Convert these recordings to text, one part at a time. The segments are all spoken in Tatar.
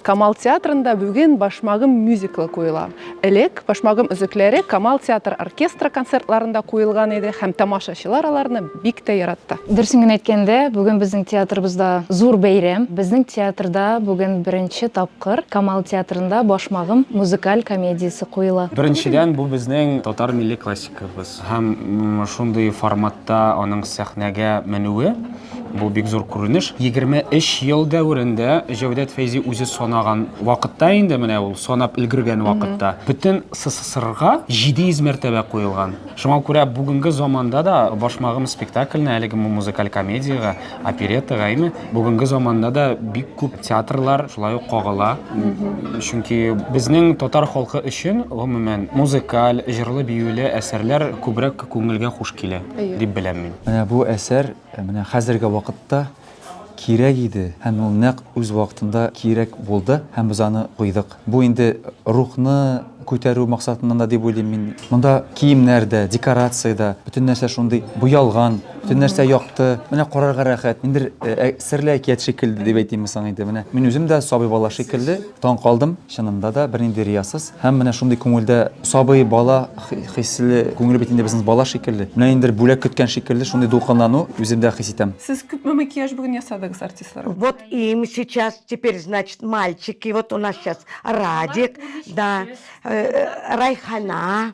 Камал театрында бүген Башмагым мюзиклы куела. Элек Башмагым өзекләре Камал театр оркестры концертларында куелган иде һәм тамашачылар аларны бик тә яратты. Дөресен генә әйткәндә, бүген безнең театрыбызда зур бәйрәм. Безнең театрда бүген беренче тапкыр Камал театрында Башмагым музыкаль комедиясе куела. Беренчедән, бу безнең татар милли классикабыз һәм шундый форматта аның сәхнәгә менүе Бу бик зур күренеш. 23 ел дәверендә Җәүдәт Фәйзи үзе санаган вакытта инде менә ул санап өлгергән вакытта бөтен СССРга 700 мәртәбә куелган. Шуңа күрә бүгенге заманда да Башмагым спектакльне әлеге музыкаль комедиягә, опереттага әйме, бүгенге заманда да бик күп театрлар шулай ук кагыла. Чөнки безнең татар халкы өчен гомумән музыкаль, җырлы-биюле әсәрләр күбрәк күңелгә хуш килә. дип беләм мин. Менә бу әсәр менә хәзерге вакытта кирәк иде һәм ул нәкъ үз вакытында кирәк булды һәм без аны койдык. Бу инде рухны күтәрү максатыннан да дип уйлыйм мин. Монда киемнәр дә, декорация дә, бөтен нәрсә шундый буялган, бөтен нәрсә якты, менә карарга рәхәт. Ниндидер серле әкият шикелле дип әйтимме соң инде, менә мин үзем дә сабый бала шикелле, Таң калдым, чынында да, бернинди риясыз һәм менә шундый күңелдә сабый, бала хисле, күңеле бит инде безнең бала шикелле, менә ниндидер бүләк көткән шикелле шундый дулкынлану үземдә хис итәм. Сез күпме макияж бүген ясадыгыз артистларга? Вот им сейчас теперь значит мальчики вот у нас сейчас Радик да Райхана.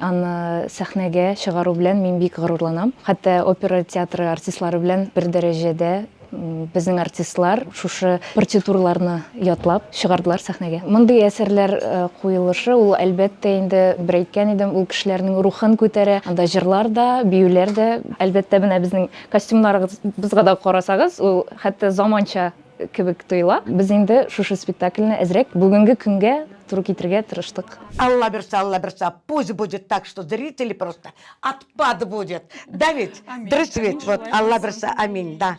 Аны сәхнәгә чыгару белән мин бик горурланам. Хәтта опера театры артистлары белән бер дәрәҗәдә безнең артистлар шушы партитураларны ятлап чыгардылар сәхнәгә. Мондый әсәрләр куелышы, ул, әлбәттә инде, бер әйткән идем, ул кешеләрнең рухын күтәрә. Анда җырлар да, биюләр дә. Әлбәттә, менә безнең костюмнарыбызга да карасагыз, ул хәтта заманча. Кебек тоела. Без инде шушы спектакльне әзрәк бүгенге көнгә туры китерергә тырыштык. Алла бирса, Алла бирса, пусть будет так, что зрители просто отпад будет, да ведь? Дөрес бит, вот, Алла бирса, аминь, да.